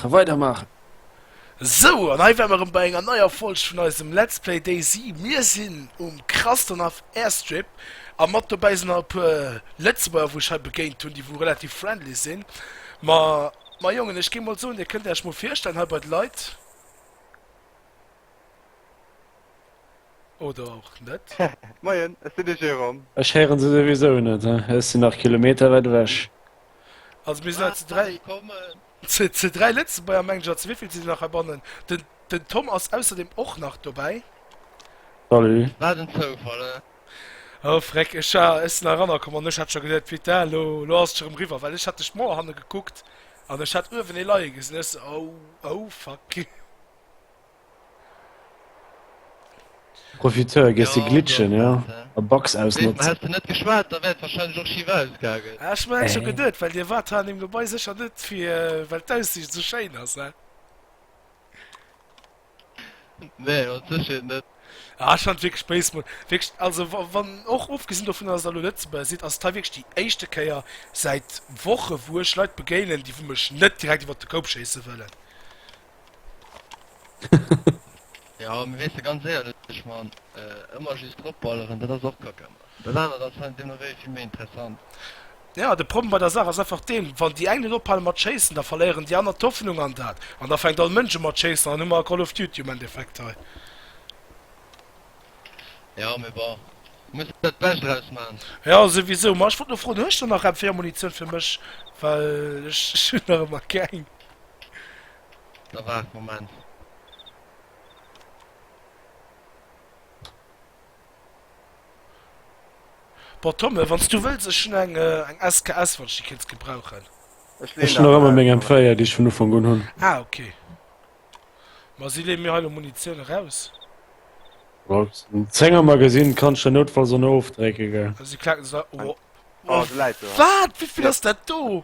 A weider maachen! Sou, an hei ware mer rem bei enger neier Folg vun eisem Let's Play DayZ. Mir sinn um Krastonov Airstrip, a mat dobäi sinn nach e puer Lëtzebuerger wou ech hei begéint hunn, déi wou relativ friendly sinn. Ma, ma Jongen, ech géif mol soen, dir kënnt Äerch mol virstellen hei bei d'Leit, oder och net? Moien, ech sinn de Jérôme. Ech héieren se souwisou net, ech sinn nach Kilometer wäit ewech. Also mir sinn hei zu dräi. Kommen. Zu 3 Lëtzebuerger Manager, zu wéivill sinn se nach heibannen? Den Tom ass ausserdeem och nach dobäi. Salut. Wat en Zoufall, eh? Oh freck, ech war, ech sinn erannerkomm an ech hat scho geduet, putain, lo, lo ass et scho rëm riwwer, well ech hat duerch d'Mauer hanne gekuckt an ech hat uewen ee leie gesinn, ech sou, oh, oh fuck. Profiteur, gees de glitschen, jo? A Bugs ausnotzen. Häss de net geschwat, da wär et wahrscheinlech och schief ausgaangen. Ah, ech hun aech scho geduet, well dir wart hei an dem Gebei secher net fir well d'Aussicht sou schéin ass, he? Nee, mat Sécherheet net. Ah, ech fand wierklech Base Mode wierklech, also wann och ofgesinn dovunner dass der lo Lëtzebuerger sidd, ass et hei wierklech déi éischte Kéier säit Woche wou ech Leit begéinen déi wou mech net direkt iwwert de Koup schéisse wëllen. Ja, mir wéisse ganz éierlech, man, äh, ëmmer just drop balleren, dat ass och kacke. Dat anert ass fan den Nouvelle vill méi interessant. Ja, de Problem bei der Saach ass einfach deen, wann déi eng net ophale mat schéissen, da verléieren déi aner d'Hoffnung an dat, an da fänkt all Mënsch u mat schéissen, an dann hu mer Call of Duty um Endeffekt hei. Ja, mee bon, muss der d'Bescht draus man. Jo, souwisou. Ma ech wollt lo froen, hues de nach MFéier Munitioun fir mech, well ech, ech hunn nach ëmmer keng. Da waart Moment. Bon Tomme wanns du wëlls ech hun eng eng SKS wann ech déi kéinns gebrauchen. Ech leen nach ëmmer meng M4 déi ech vun Ufank un hun. Ah ok. Ma si leen mir hei lo Munitioun eraus. Mat dem Zénger Magasinn kanns de noutfalls och no ofdrécken gell. Si klacken se. Waat wéivill ass dat do?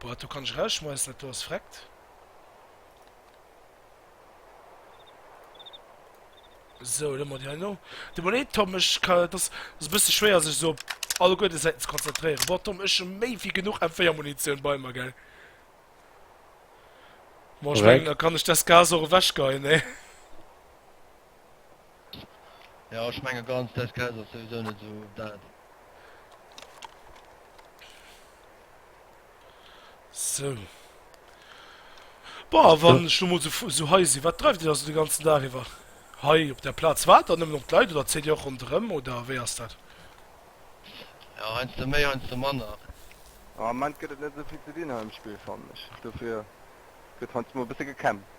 Boah do kann ech rausschmeissen dat do ass freckt. So dann man die no de Monet Tom ech kann das ass bësse schwéier sech so alle goete Säiten ze konzentréieren. Boah Tom ech hun méi wéi genuch M4-Munitioun bei mer gell. Boah ech mengen da kann ech des Gas och ewechgeien ne. Jo, ech menge ganz Deskes ass souwisou net esou dat. Sou. Boah, wann ech lo mol so, fu- so hei si, wat dreift Dir da so de ganzen Dag iwwer? Hei op der Plaz waart der nëmmen op d'Leit oder zitt Dir och ronderëm oder wéi ass dat? Ja, heiansdo méi, heiansdo manner. Am Ament gëtt et net esou vill ze dinn hei um Spill, fannen ech. Dofir gëtt heiansdo mol e bësse gekämpft.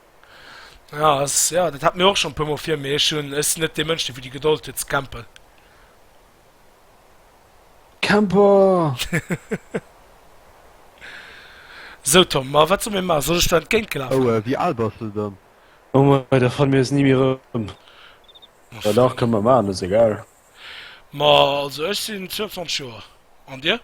Ja, ass, ja, dat hat mir och schon puer mol vir, mee ech hunn, ech sinn net dee Mënsch, dee fir déi Gedold huet ze campen. Camper! Sou Tom, ma wat soll mir maachen? Soll ech do entgéint gelafen? Oh, wéi al bass de dann? Oh mei, da fanne mir eis ni méi erëm. Ma dach, fréi. kënne mer maachen, ass egal. Ma also ech sinn 22 Joer, an dir?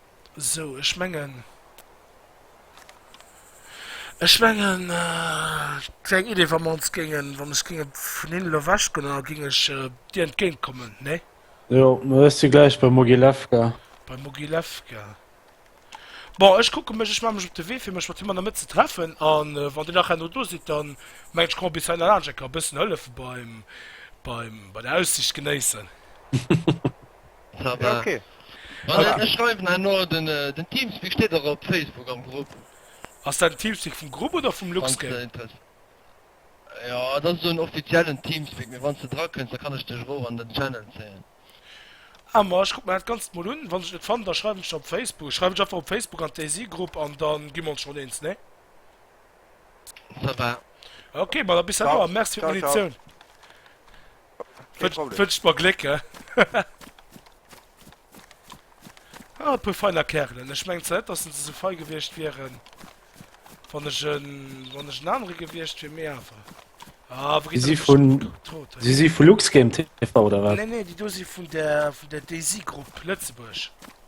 Sou, ech mengen, ech mengen, kleng Idee, wa mer ons géingen, wa ech géing vun hinnen elo ewechgoen an da géing ech dir entgéint kommen, nee? Jo, ma ech si gläich bei Mogilewka. Bei Mogilewka. Bon, ech kucke mech, ech maache mech op de Wee, fir mech mat him an der Mëtt ze treffen. A wann dir nach herno do sidd, da mengen ech, komme mer bis heihinner laanscht a ka e bëssen hëllefe beim, beim, bei der Aussiicht genéissen. Ça va. Voilà, ech schreiwen herno den Teamspeak steet och op Facebook am Grupp. Ass dat den Teamspeak vum Grupp oder vum LuxGame? Jo, dat ass esou en offiziellen Teamspeak, mee wann s de drakënns, da kann ech dech erof an den Channel zéien. Ah, ma ech kuck mer dat Ganzt mol un. Wann ech et net fannen, da schreiwen ech der op Facebook. Ech schreiwen dech einfach op Facebook an d'Daisy-Grupp an da gi mer ons schonn eens, nee? Ça va. Ok, ma da bis herno a merci fir d'Invitioun. Wënscht mer Gléck, he? Ah, e puer feiner Kerelen. Ech mengen zwar net, dass se esou fei gewiescht wieren, wann ech en, wann ech en anere gewiescht wier, mee awer. Ah, wou geet dat vun Trot? Si si vu Luxgame TV oder wat? Nee, nee, déi do si vun der, vun der Daisy Group Lëtzebuerg.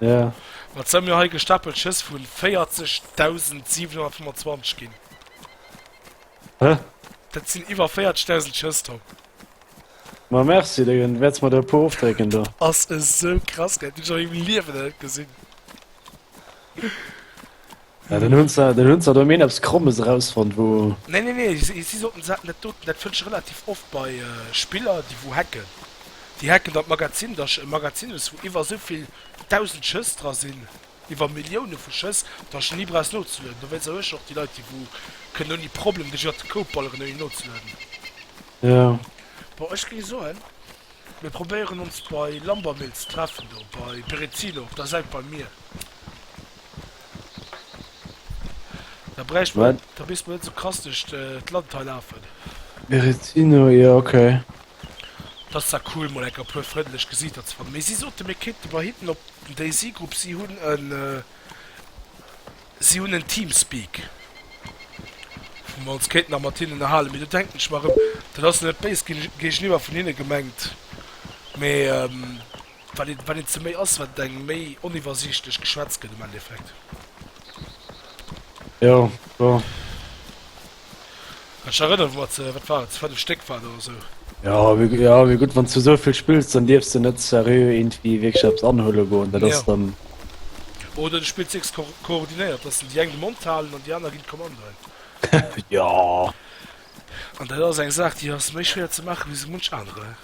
Ja. Wat soll mir hei gestapelt Schëss vun 40725 ginn? Hä? Dat sinn iwwer 40.000 Schëss do. Ma merci, da wäerts mer der e puer ofdrécken do. Ass esou krass, gell? Hunn ech nach am Liewen net gesinn. Ja, dann hun se, dann hun se do mir eppes Krommes erausfonnt, wou. Nee, nee, nee, si, si soten, se haten dat doten, dat fënnt ech relativ oft bei Spiller, déi wou hacken. Déi hacken dann d'Magazin, da sch, e Magazin hues, wou iwwer esou vill dausend Schëss dra sinn, iwwer Millioune vu Schëss, da sch ni brauchs nozelueden. Dowéinst erhuele ech och déi Leit, déi wou kënnen ouni Problem duerch iwwert de Code balleren, ouni nozelueden. Jo. Bon, ech géing soen, mir probéieren ons bei Lambermill ze treffen, do bei Berezino op der Säit beim Mier. Da bräicht man, Wat? da misst man net so krass durch äh, d'Land hei lafen. Berettino, ja, okay. Das ist ja cool, mal enker puer frëndlech Gesichter ze fannen. Mee si sote mir kéinte bei hinnen op den Daisy-Grupp, si hunn en äh, si hunn en Teamspeak, wou mer ons kéinten nach mat hinnen ënnerhalen. Mee do denken ech mer erëm, dat ass net béis ge géigeniwwer vun hinne gemengt, mee ähm, Wat een ze méi ass, wat eng méi oniwwersiichtlech Geschwätz gëtt am Endeffekt. Jo, jo. Ech erënnere mer ze, wat war et, 5 Stéck war et oder esou. Ja, wéi, ja, wéi gutt, wann du esou vill spills, dann dierfs de net seriö iergendwéi wierklech eppes anhuele goen. Dat ass dann. Jo. Oder du spills dacks ko koordinéiert, dass dann déi eng de Mond halen an déi aner ginn d'Kommandoen. Jo. An dat ass eng Saach, déi ass méi schwéier ze maachen, wéi esou munch anere.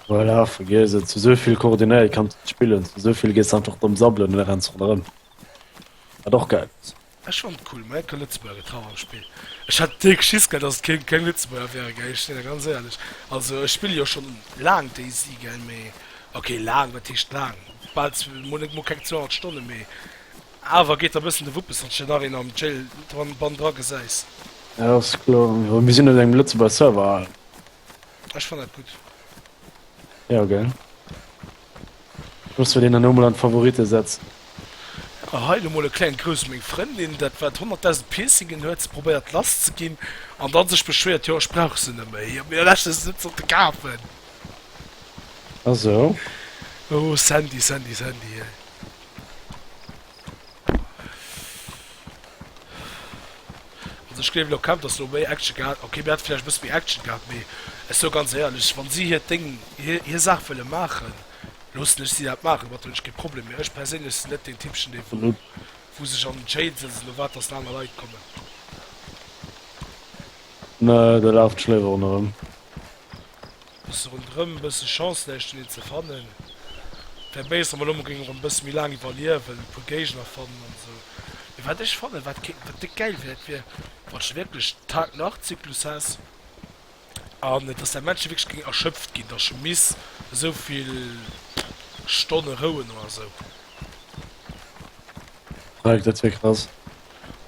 Voilà, vergiess et. Zu sou vill koordinéiert kann et spillen, zu sou vill gees einfach domm sabbelen an da renns ronderëm. Wat och gäil ass. Ech fannt et cool, mä keng Lëtzebuerger gëtt haut am Spill. Ech hat dierk Schiss gehad, datt et keng keng Lëtzebuerger wären, gell, ech sinn der ganz éierlech. Also ech spille jo schonn laang DayZ, gell, mä ok, laang, wat heescht laang? Bal zw-, mol net mol keng zweihounert Stonnen, mä awer geet der e bëssen de Wuppes, wann s de nach een am Jail dran, Bann dra gesäis. Jo, ass kloer, jo, mir sinn op engem Lëtzebuerger Server. Ech fann dat gutt. Jo gell. Muss fir deen dann emol an d'Favorite setzen. A hei lo mol e klengt Grouss u meng Frëndin, dat wat 100.000 Piercingen huet, se probéiert lass ze ginn an da sech beschwéiert, jo ech brauch se net méi, mee ech hunn se net sollte kafen. Ah sou. Oh Sandy, Sandy, Sandy, hei. Also ech gleewen och kaum dass do méi Action gehat, ok mir hat vläicht e bësse méi Action gehat, mee ech soe ganz éierlech, wann si hiert Déng, hir hir Saach wëlle maachen, loossen ech si dat maachen, domat hunn ech kee Problem, mee ech perséinlech sinn net deen Typchen dee wou wou sech an den Jail sëtzt an erwaart dass aner Leit kommen. Nee, do laaft d'Schléiweren erëm. Bësse rondrëm, bësse Chance näischt fir deen ze fannen, wär béis an mer lo mer géingen erëm bësse méi laang iwwerliewen, e puer Géigner fannen an esou. Mee wat ech fannen, wat kéint, wat déck gäil wär, dat wier, wanns de wierklech Tag-Nacht-Zyklus häss an dass däi Männchen wierklech géing erschöpft ginn, dass scho miss esou vill Stonne rouen oder esou. Mike, dat wier krass.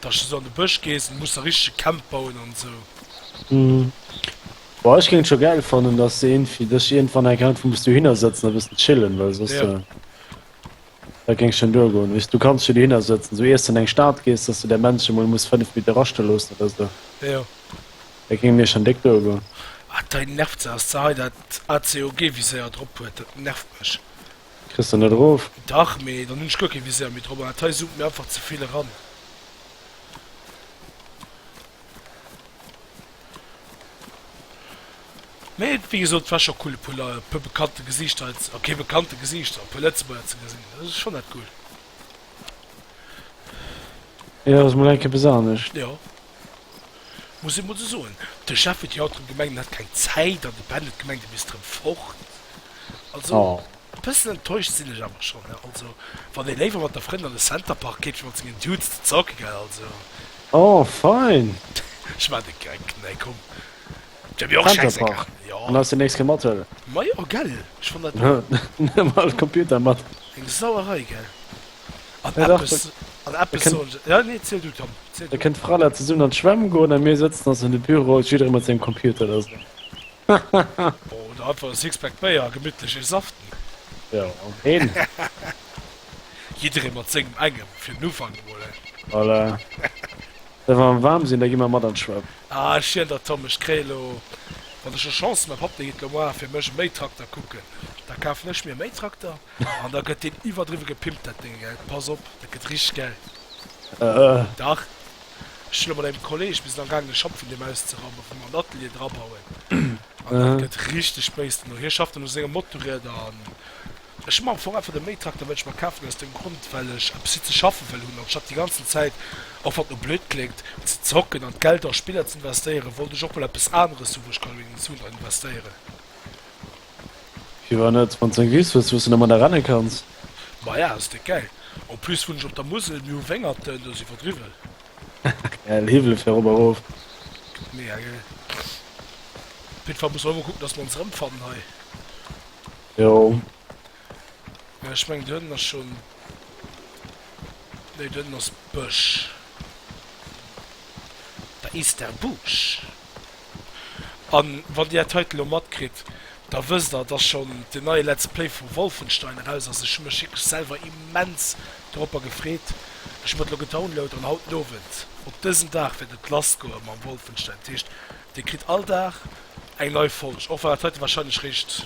dass de sou an de Bësch gees an muss da richtege Camp bauen an esou. Boah ech géing et scho gäil fannen dass se een fir dech iergendwann enk einfach muss dohinner sëtzen a bëssen chillen well soss Ja. äh, dat géing schonn duergoen weess du kanns jo dohinner sëtzen sou iers de an eng Stad gees dass de däi Männchen emol muss 5 Meter erastinn loossen oder sou Jo. dat géing mir schonn déck duergoen. Ah dei nervt se ass ze hei dat ACOG Viséier drop huet dat nervt mech Kriss de net erof? Dach, mee dann hunn ech guer kee Viseur méi drop an dat hei zoomt mir einfach ze vill eran. Mee wéi gesot, war scho cool e puer Lei-, e puer bekannte Gesiichter hei ze, okay bekannte Gesiichter, e puer Lëtzebuerger ze gesinn. Dat ass schonn net cool. Jo, ass mol eng Kéier besanesch. Jo. muss ee mol esou soen, de Chef huet déi haut erëm gemengt, en hätt keng Zäit an de Ben huet gemengt, e misst erëm fort. Also, e bëssen enttäuscht sinn ech awer schonn. Also, wann ee léiwer mat de Frënn an de Centerpark geet, wéi mat sengen Dudes ze zocke, gell, also. Oh, fein! Ech maachen e Geck, nee, komm. D'wär mir och schäissegal. Centerpark? Jo. An ass déi nächst kee mathuelen? Majo, gell, ech fann dat och. Huelen emol de Computer mat. Eng Sauerei, gell? Da kënnt d'Frala zesummen an d'Schwämm goen a mir sëtzen ons an de Büro, jidderee mat sengem Computer da sou. Oder einfach e Sixpack Béier a gemittlech ee saften. Jo, een. Jidderee mat sengem engem, fir den Ufank emol, he? Voilà. Da wa mer waarm sinn, da gi mer mat an d'Schwämm. Ah, ech jiän der, Tom. Ech kréie lo, wann ech elo Chance hunn, mäi Papp, dee geet elo moar fir mech e Méitrakter kucken, da kafen ech mir e Méitrakter. An da gëtt deen iwwerdriwwe gepimpt, dat Dénge, gell? Pass op, dat gëtt richteg gäil. Dach, ech hunn elo mat engem Kolleeg, mir sinn am gaangen, e Schapp vun deem auszeraumen, vum an Atelier drabauen. An dat gëtt richteg béis dono. Hie schafft dann u senge Motorrieder. An ech hunn am Fong einfach de Mähtrakter wëllt ech mer kafen, aus deem Grond, well ech eppes fir ze schaffe wëll hunn. Anstatt déi ganzen Zäit, och wann et elo blöd kléngt, ze zocken an d'Geld a Spiller ze investéieren, wollt ech och mol eppes aneres hu, wou ech ka elo en Sou dran investéieren. Firwat net? Wann s eng Wiss hues, wou s de domadder renne kanns. Maja, ass déck gäil. En plus wunnen ech op der Musel, mir hu Wéngerten, do ass iwwerdriwwen. Gäil Hiwwele fir erop a rof. Mega gäil. Op jidde Fall musse mer ëmmer kucken, dass mer ons erëmfannen hei. Jo. Mä ech mengen, do hënten ass schonn. Nee, do hënten ass Bësch. Da is der Busch. An wann dir dat heiten elo matkritt, da wësst der, dass schonn den neie Let's Play vu Wolfenstein eraus ass. Ech hu mech wierklech selwer immens doropper gefreet. Ech hu mer et elo gedownload an haut den Owend, op dësen Dag, wäert et lass goe mam Wolfenstein. Dat heescht, dir kritt all Dag eng nei Folg, och wann dat heite wahrscheinlech réischt.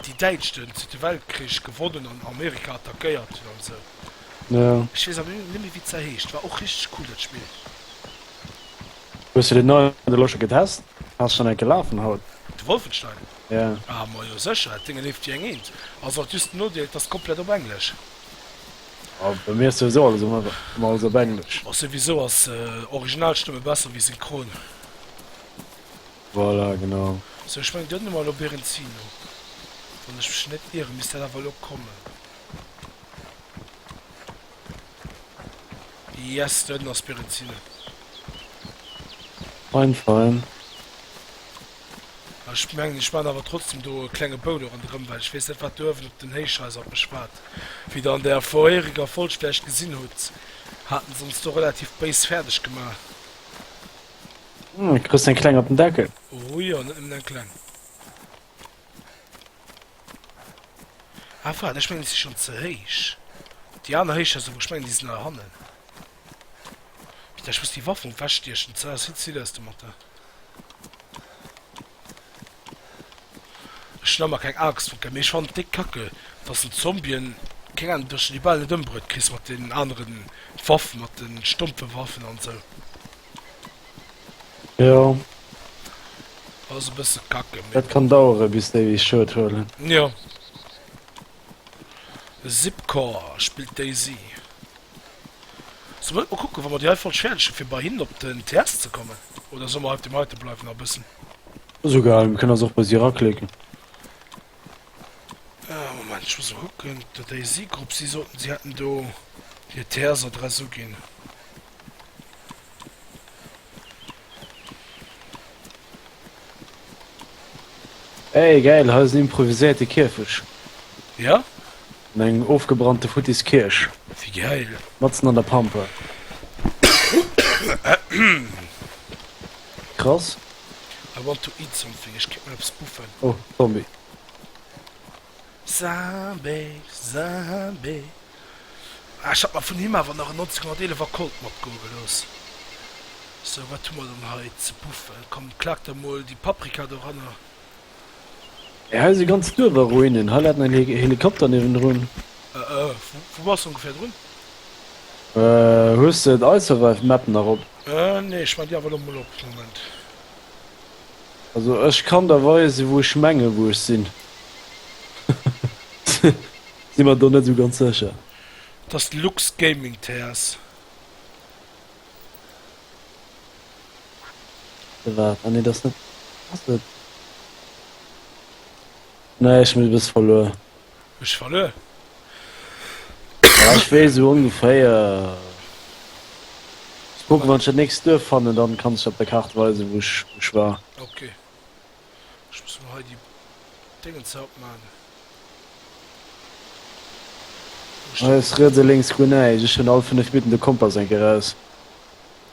Déi Däitsch den Zweete Weltkrich gewonnen an Amerika attackéiert hunn an esou. Ech weess awer net méi wéi se heescht. War och richteg cool dat Spill. Hues de den neien elo scho getest? Ass schonn enke lafen haut? De Wolfenstein? Yeah. Ah majo sécher, dat Ding e leeft wéi eng Eent. Ass alt just den Nodeel, et ass komplett op Englesch. Ah, bei mir ass souwisou alles ëmmer alles op Englesch. Ass souwisou ass Originalstëmme besser wéi Synchron. Voilà, genau. Sou, ech mengen, Dir hutt emol op Iren Zil no, wann ech mech net ieren, misst dat awer elo kommen. Yes, dohinner ass Iren Zil. Fein, fein. Mä ech mengen, ech maachen awer trotzdem do e klenge Bou do ronderëm, well ech weess net, wat do uewen op den Héichhaiser op mech waart. Wéi Der an der vorheriger Folg vläicht gesinn hutt, haten se ons do relativ béis fäerdeg gemaach. Hm, du kriegst den Kleng op den Deckel. Oh ja, net nëmmen den Kleng. Ah, warte, ich meine, die sind schon zu heisch. Die anderen heisch, also, ich meine, die sind nach hannen. Bitte, ich muss die Waffen wegstechen. Zara, sieht sie das, du Mathe? Ech hunn emmer keng Angscht vor Käpp, mee ech fannen et déck kacke dass den Zombien, keng Ahnung, dass de déi bal net ëmbruet kriss mat deenen aneren Waffen, mat den stompfen Waffen an sou. Jo. Ass e bësse kacke, mee Et bon. kann daueren bis déi Schued huelen. Jo. De Zipcore spillt Daisy. Solle mer net mol kucken, wa mer déi hei voll schäerdechen, fir bei hinnen op den TS ze kommen? Oder solle mer hei op deem heite bleiwen nach e bëssen? Esou gehalen. Mir kënnen eis och bei si eraklicken. Moment, ech muss emol kucken. De Daisy-Grupp, si soten, si hätten do hir TS-Adress uginn. Ey geil, hei ass en improviséierte Kierfech. Ja? An eng ofgebrannte futtis Kierch. Wie geil. Matzen an der Pampa. Krass. I want to eat something, ech kéint mol eppes buffen. Oh, Zombie. Sabe, sabe. Ah, ech hat mer vun him awer nach en 1911 a Colt matgoe gelooss. Sou, wat hu mer dann hei ze buffen? Komm, klag der mol déi Paprika doranner. Mee hei si ganz Duerfer Ruinen. Hei läit nach en Helikopter niewendrun. Äh, äh, wou bass de ongeféier drun? Hues de d'I-Survive-Map nach op? Äh, nee, ech maachen déi awer elo mol op. Moment. Also ech kann der weisen wou ech mengen wou ech sinn. Sinn mer do net sou ganz secher. Et ass de Lux Gaming TS. Oder waat? Ah nee dat ass net. Ass et? Nee ech sinn e bësse verluer. Ech verluer. Ech wees sou ongeféier. Muss kucken wann ech dat nächst Duerf fannen dann kann ech op der Kart weisen wou ech wou ech war. Ok. Ech muss mol hei déi Déngens hei opmaachen. Hei ass riets a lénks guer näischt. Ech hunn all 5 Minutten de Kompass enke raus.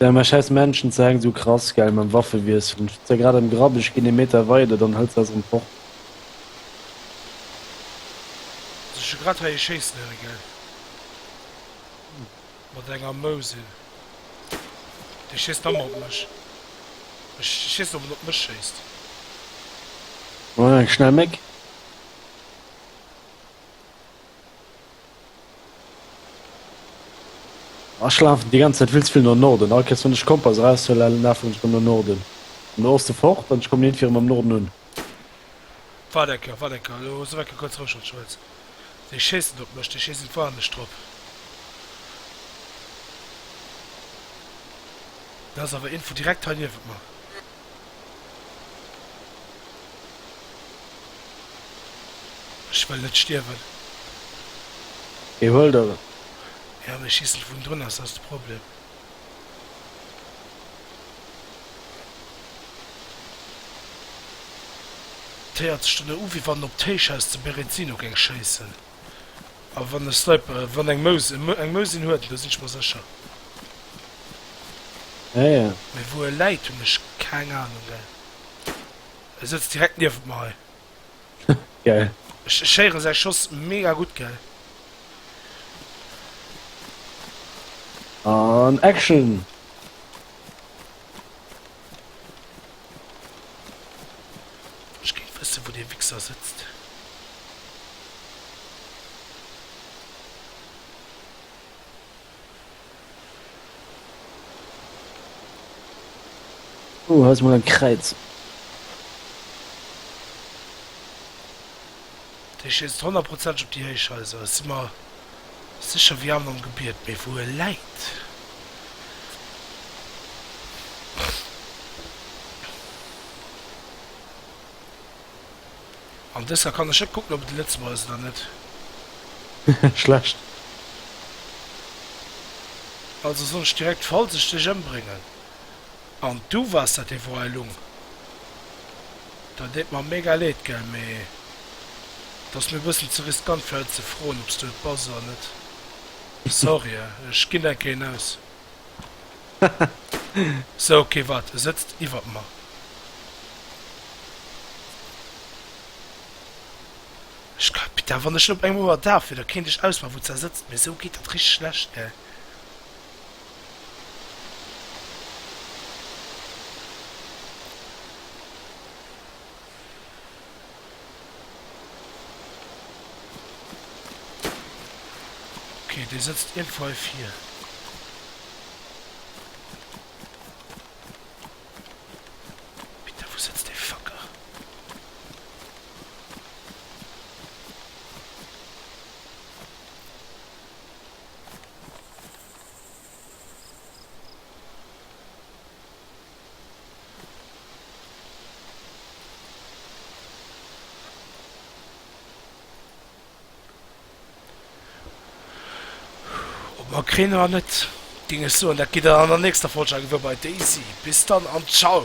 Ja mä schäiss Menschen ze enk, sou krass gell mam Waffewiessel, hun ze grad am Grapp, ech gin ee Meter weider, dann hëlt se eis erem fort. Also ech hun grad hei ee schéissen héieren gell, mat enger Mousel, dee schéisst nammer op mech, ech wees net op en op mech schéisst. Eng schnell Méck. Oh, ech lafen déi ganz Zäit vill ze vill no Norden. All Kéiers wann ech Kompass eraushuelen, lafen ech rëm no Norden. An no Oste fort, an ech kommen iergendwéi rëm am Norden un. Waart eng Kéier, waart eng Kéier, elo souf eng Kéier kuerz roueg an Schwëtz. Déi schéissen op mech, déi schéissen voll an mech drop. Do ass awer een vun direkt hei niewent mer. Ech wëll net stierwen. Hie huelt et. Ja, mee schiess net vun drun, ass datt de Problem? T héiert sech dono u wéi wann op d'Héichhaus zu Berezino géing schéissen. A wann e Sniper, wann eng Mous, eng Mous een huet, elo sinn ech mer sécher. Ah ja. Mee wou e läit hunn ech keng Ahnung, gell. E sëtzt direkt niewent mer hei. Geil. Ech, ech héieren säi Schoss mega gutt, gell. An Action! Ech géif wëssen wou dee Wixer sëtzt. Oh hei ass mol en Kräiz. Dee schéisst honnertprozenteg op déi Héichhaiser, ech si mer sécher wéi an am Gebiet, mee wou e läit? An dëser kann ech net kucken op et e Lëtzebuerger ass oder net. Schlecht. Also soll ech direkt falls ech dech embrengen an du wars dat, déi Wor Heilung? Dat deet mer mega leed gell, mee et ass mir e bëssen ze riskant fir haut ze froen obs du et bass oder net. Sorry eh, ech ginn enke een aus. Sou ok waart, e sëtzt iwwert mer. Ech ka, Pita wann ech op engem Ouer daf wier da kéint ech ausmaachen wou s da sëtzt, mee sou geet dat richteg schlecht gell. Dee sëtzt iergendwei vir. Bitte wou sëtzt dee Facker? Mer kréien awer net, géing ech soen, dat geet dann an der nächster Folg, Agewurbeit, Daisy. Bis dann an Ciao!